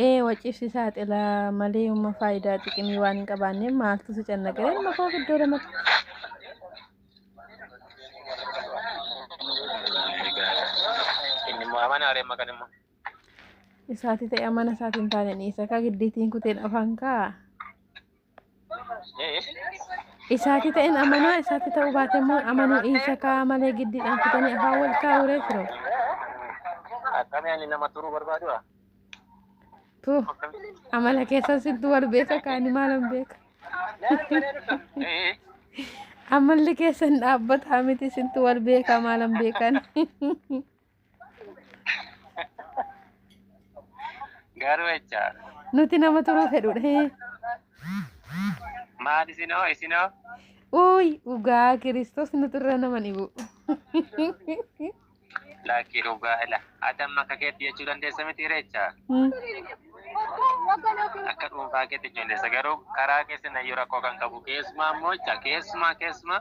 ee waciifsi saaxila malee umma faayidaa xiqimii waan hin qabaanneef maaltu si cannaqee ilma koo iddoo lamatti isaati ta'e amana isaatiin taane dhiisa akka giddiitiin kuteen afaan kaa Isaati ta'een amanaa isaati ta'uu baate immoo amanuu dhiisa kaa malee giddiidhaan kutanii afaan wal kaa'uuree firoo. Akkamii ani nama turuu barbaadu haa? Tu amala keessan sittu wal beeka kaani maalan beeka. Amalli keessan dhaabbataa miti sittu wal beeka maalan beekan. Garuu jecha Nuti nama turuu fedhudha. hee. maal isinoo isinoo Uuy dhugaa kiristoos nuti irra nama dhibu. lakkii dhugaa ila ati amma akka keetti jechuu dandeessa miti reecha akka dhuunfaa keetti jechuu dandeessa garuu karaa keessa nayyuu rakkoo kan qabu keessumaa immoo jecha keessumaa keessumaa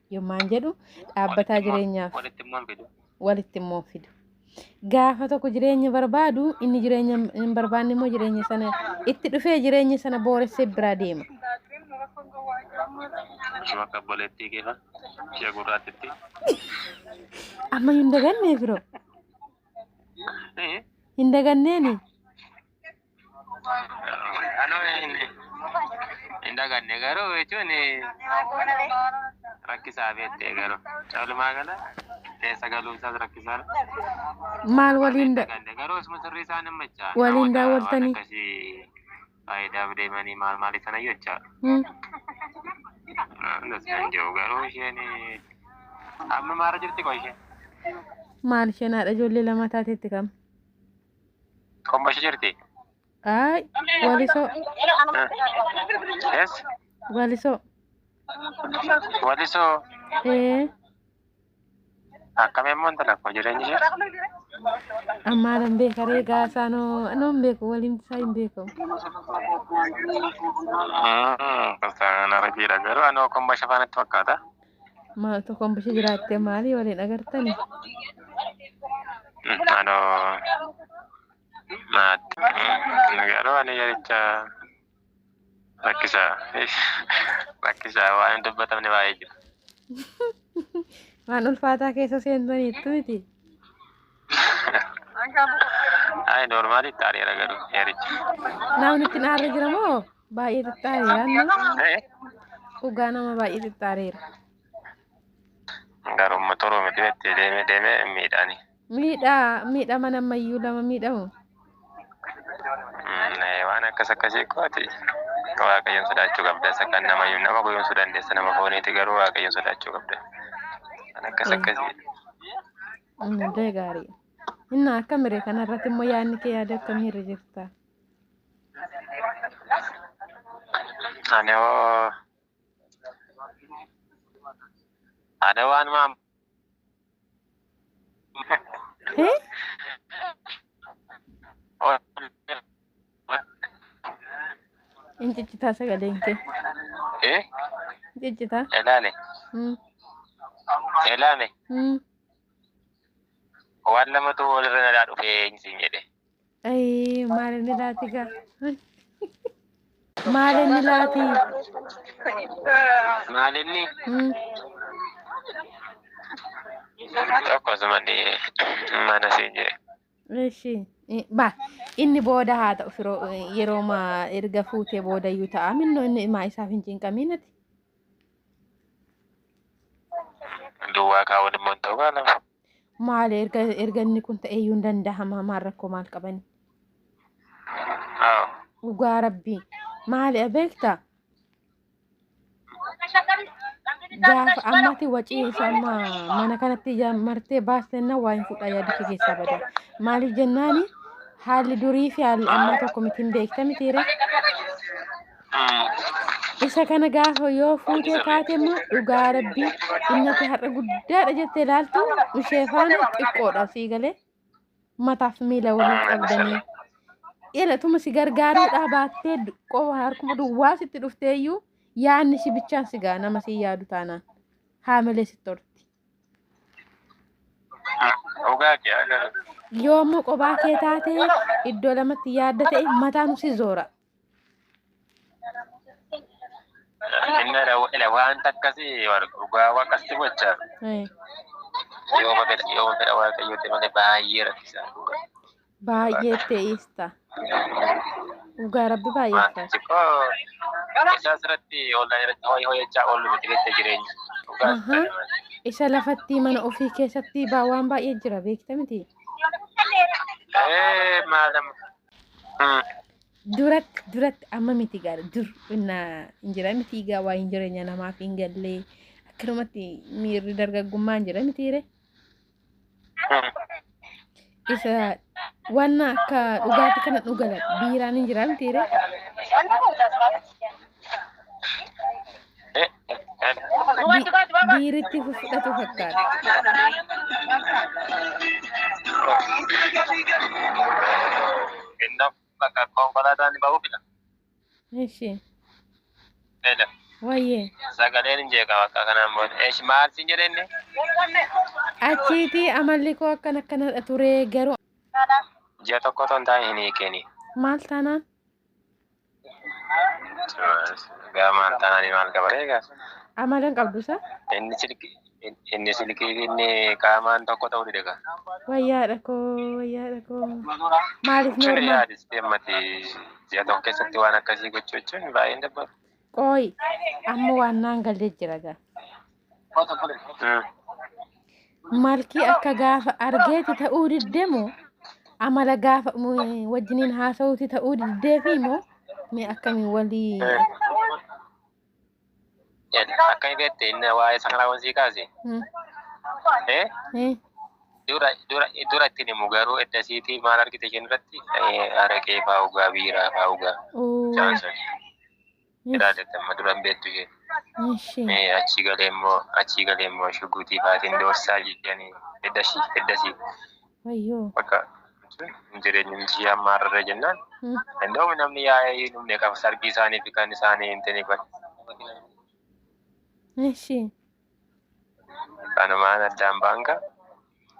Yommaan jedhu dhaabbataa jireenyaaf walitti immoo fidu. walitti immoo fidu. Gaafa tokko jireenya barbaadu inni jireenya hin barbaanne immoo jireenya sana itti dhufee jireenya sana booressee biraa deema. Ishee akka obboleettii keefa ishee gurraattitti. Amma hin dagannee firoo. Ee, Hin daganneeni. Anoo hin hin daganne garuu jechuun rakkisaa beektee garuu walumaa gala keessa galuun isaas rakkisaadha. Maal Warri waliin hin da- daganne garuu osuma sirrii isaan hin machaa. Waliin daawwattanii? Waan akkasii faayidaaf deemanii maal maaliif sana jechaa. Hmm. Andas kan jiru garuu isheen amma maara jirti qoy isheen. Maal isheen haadha ijoollee lama taatetti kam? Qomboshi jirti. Aay, walisoo, Yes. walisoo. Walisoo. Ee, Akkam immoo intala koo jireenyi ishee. ammaa nan beeka ree gaasaa noo, noo hin beeku, waliin isaa hin beeku. Sana rabiidha garuu anoo qomboshi faanatti fakkaata. Maal tokkoon bisha jiraatte maalii waliin agartani? Aloo maatti garuu ani yericha rakkisaa rakkisaa waan hin dubbatamne baay'ee jira. Waan ulfaataa keessa seentaniittu miti. Ay normaali taariira garuu heerichi. Namni itti naarra jira moo baay'ee xiqqaareera. Eh, Dhugaa nama baay'ee xiqqaareera. Garuu motoroo miti itti deemee deemee miidhaani. Miidhaa miidhaa mana ammayyuu lama miidhamu. Mm, eh, Waan akkas akkasii kooti. Waaqayyoon sodaachuu qabda. Isa kan nama iyyuu nama goyoomsuu dandeessa nama fooniiti garuu waaqayyoon sodaachuu qabda. Waan akkas akkasii. Hundee gaarii. Inna akka mire kana irratti immoo yaadni kee yaada akkamii irra jirta? Ani hoo ani waan maam Hee? In ciccitaa sagaleen kee. eh Ciccitaa. ilaale Mm. ilaale Mm. Waan lamatu walirra nalaa dhufe eenyu siin jedhe. Ayii maal inni laati gaa? Maal inni laati? Maal inni Hmm. tokko asuma ni mana siin jedhe. Eshi ba inni booda haa ta'u firoo yeroo ma erga fuutee booda iyyuu ta'a minno inni maa isaaf hin cinqamiin ati. Duwwaa kaa'uun immoo hin ta'u kaa lama. Maal erga erga inni kun ta'ee iyyuu hin danda'ama maal rakkoo maal qabani? Haa. Dhugaa rabbii maali beekta gaafa ammati wacii isa amma mana kanatti ija martee baastenna waa hin fudha yaada kee keessaa bada maaliif jennaani haalli durii fi haalli ammaa tokko miti hin beekta mitiire Isa kana gaafa yoo fuutee kaate immoo dhugaa rabbii innati har'a guddaadha jettee ilaaltu ishee faana xiqqoodha sii galee mataaf miila waliin qabdanii dheeratuma si gargaaruudhaa baattee qofa harkuma duwwaa sitti dhufteeyyuu yaanni si bichaan si ga'a nama si yaadu taanaan haamilee sitti horti. Yoommoo qobaa kee taatee iddoo lamatti yaadda ta'e mataan si zoora. Inni ila waan takkasi dhugaa waaqasti gocha yooma fedha yooma fedha waaqayyooti malee baay'ee rakkisaa dhugaa. Baay'ee te'ista. Dhugaa rabbi baay'ee Maanti ulfaata. xiqqoo isaa asirratti ollaan irratti ho'i ho'achaa oolu miti beekta jireenya. Dhugaa Ahaa. Isa lafatti mana ofii keessatti baa waan baay'ee jira beekta miti. Eh maalam Durak durak amma miti gaari dur inna hin jira miti egaa waa hin jireenya namaaf hin gallee akkanumatti miirri dargaggummaa hin jira miti ree. Isa waan akka dhugaatti kana dhugala biiraan hin jira miti ree. biiritti fudhatu fakkaata. Innaaf bakka konkolaataan ba'uu fida. Eshi. Fedha. Wayyee. Sagaleen hin jeeqamu akka kanaan booda. Eesh maal siin jedhe inni? Achiiti amalli koo akkan akkanadha ture garuu Ji'a tokko otoo hin taane hin hiikini. maal taanaan Gaamaan taananii maal qaba eegaa? Amala hin qabdu isaa. Inni silkii inni silkii fi inni qaamaan tokko ta'uu dide kaa. Wayyaadha koo wayyaadha koo. Maaliif Cire normaal? yaadis deemmati ji'a tokko keessatti waan akkasii gochuu jechuun baay'een dabbara. Qooyi amma waan naan galle jira gaa. Ah, Malkii akka gaafa argeeti ta'uu diddee moo amala gaafa mm, wajjiniin haasa'uuti ta'uu diddee fi moo mee akkamiin walii eh. Ed, Akka hin beekte inni waa'ee sakalaa wansi kaase. Mm, Eh, eh, dura dura dura ittiin himu garuu edda siitii maal argite isheen irratti Eh, araqee fa'aa dhugaa biiraa fa'aa dhugaa. uu, Isaan sun. Iraa dette amma dura hin beektu isheen. Ishee. Mee achii galee immoo achii galee immoo shuguutii faatiin doorsaa jedhanii heddasii heddasii Wayyoo. bakka hin jireenyi miti ishee amma hararree jennaan. Hmm. Danda'uun namni yaa'ee hin dhumne kan sargii isaanii fi kan isaanii hin tini kun. Ishee. Kanumaan addaan baanka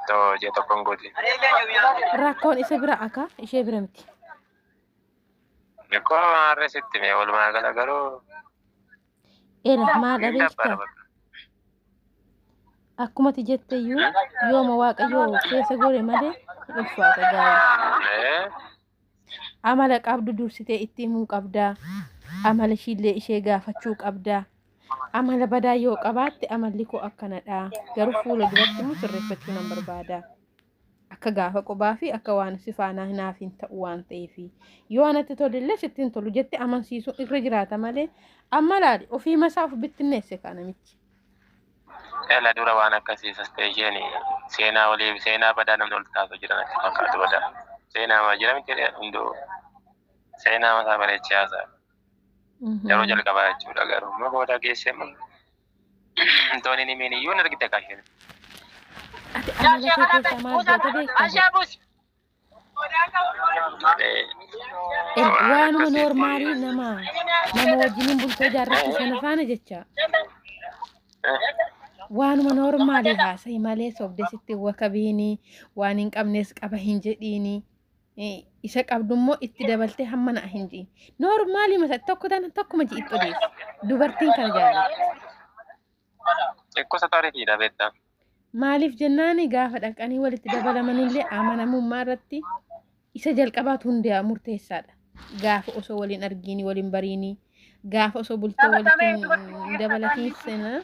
too jee tokkoon guuti. Rakkoon isa bira akaa ishee bira miti. Likkoo maarree sitti mee walumaa gala garuu Era maa hin dhabeef dabbara ta'a. bakka. Akkumati jette iyyuu yooma waaqayyoo keessa gore malee hin ulfaata gaa'ela. Ee, Amala qabdu dursitee itti himuu qabdaa. Amala ishiillee ishee gaafachuu qabdaa. Amala badaa yoo qabaatte amalli koo akkanadha. Garuu fuula duratti immoo sirreeffachuu nan barbaada. Akka gaafa qubaa fi akka waan si faanaa hin haafiin ta'u waan ta'eef yoo anatti tolillee sitti hin tolu jette amansiisuun irra jiraata malee amma laali ofii masaa of bittinneesse kaa namichi. Ela dura waan akkasii sastee isheen seenaa olii seenaa badaa namni ol taatu jira natti fakkaatu badaa. Seenaa maa jira miti hunduu seenaa masaa bareechee haasaa. Yeroo jalqabaa jechuudha garuu amma booda geessee moo. Tooni ni meeni yuun argita kaashin. Ati amala kee keessaa maal goota beektaa? Erga waanuma noormaalii nama nama wajjiniin bultoo jaarratti sana faana jecha waanuma noormaalii haasa'i malee sobde sitti wakabiini waan hin qabnes qaba hin jedhiini. isa qabdummoo itti dabaltee hamma na'a hin jiin. Noormaalii masa tokko tana tokkuma ji'itti odeessi. Dubartiin kan jaallattu. Xiqqoosa taarifiidha beektaa. Maaliif jennaan gaafa dhaqanii walitti dabalamanillee amanamummaa irratti isa jalqabaatu hundaa murteessaadha. Gaafa osoo waliin argiini waliin bariini gaafa osoo bultoo walitti dabalatiin sena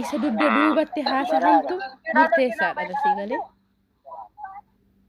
isa dugda duubatti haasa'antu murteessaadha dasii galee.